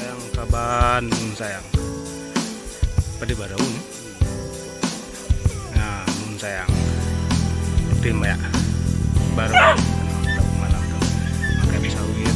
Sayang saban mun sayang. Padi barau ni. Nah, mun sayang. Tim ya. Baru tahu malam tu. Makan sawit.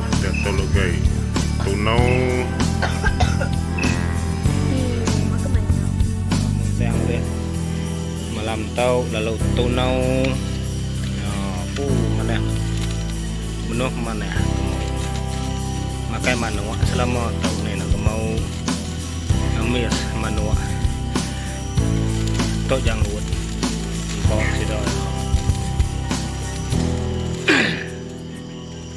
Enda tau legai tunau hmm. Malam tau lalu tunau Aku mana Menuh mana Makai manua selama tau ni nak mau Amis manua Tok janggut Kau sidak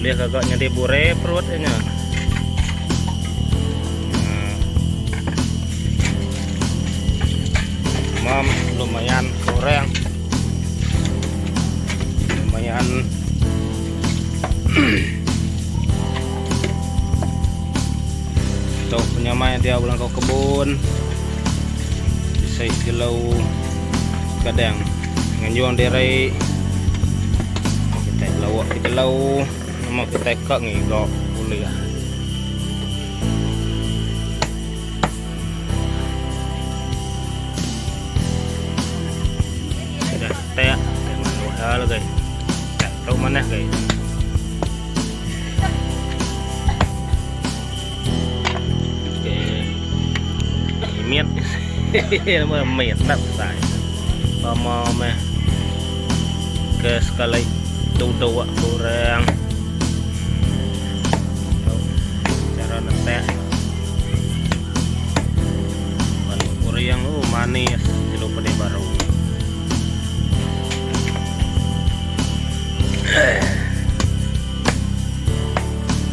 Ulih gaga nyadi burai perut inya. Mam lumayan kurang. Lumayan Tau punya mai dia ulang kau kebun. Saya silau kadang. Nganjung diri kita lawa ke jelau nama kita kak ngiga boleh lah. Kita tak kena luar lagi. Tak tahu mana lagi. Imit Nama imit Tak besar Sama meh Ke sekali Duduk wak kurang Cara netek Balik kurang Oh manis Jelu pedi baru Eh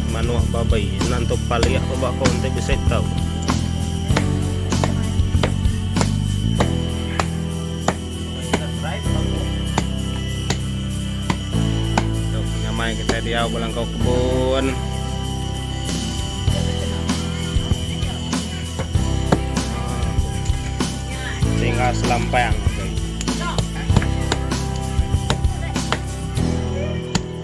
Manok babai enda entuk palik ko ba ko enti bisi tau. Tu penyamai kita diau belangkau kebun. Tinggal selampang.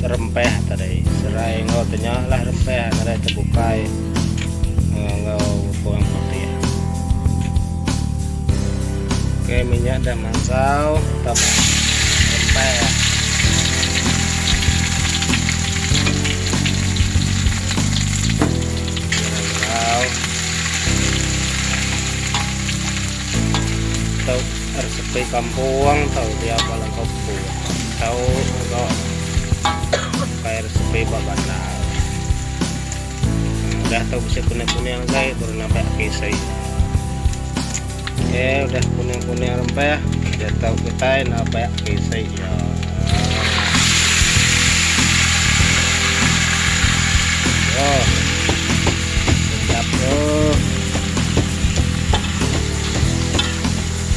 serempah tadi serai enggau tenya lah rempah tadi terbukai eh, enggau kurang putih ok minyak dah mansau kita rempah ya. Tau, harus Ti kampung tau dia ba langkau pun tau ga pakai resipi ba bandar. Udah tau bisi kuning-kuning gai baru nambah KSI. Okey, udah kuning-kuning rempah, dia tau kitai nambah KSI ya. Oh. Sedap tu.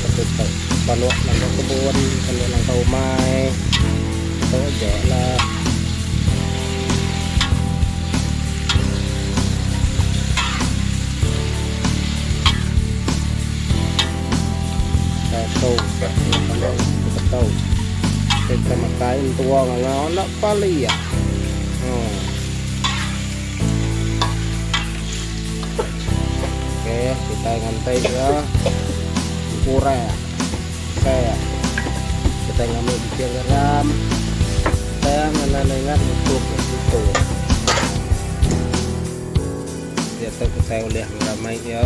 Ketupat balok nambah kebun kena langkah umai tu aja lah. Tato tato. Kita makai tua ngau nak pali ya. Hmm. Okey, kita ngantai dia kurang saya. Kita ngambil biji garam. Kita ngena dengan utuh itu. Dia tu kita boleh ramai dia.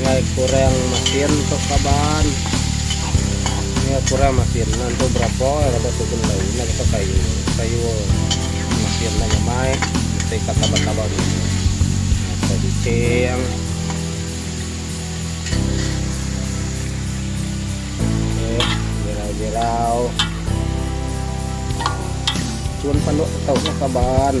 Ngai kurang masin tu kaban. Ngai kurang masin nan tu berapa eh raba tu benda guna kita kayu. Kayu masin nan nyamai mesti ka kaban-kaban ni. Kita bicing. Eh, jirau-jirau. Cun panduk tau kaban.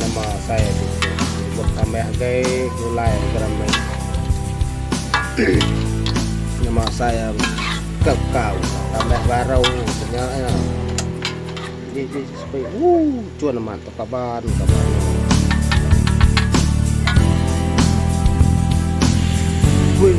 Nama asai agi tu. Buk tambah agai gulai garam meri. Nama asai ya ke kau tambah baru nya ya. Ji ji sepi. Uh cun amat tu kaban kaban. Wih.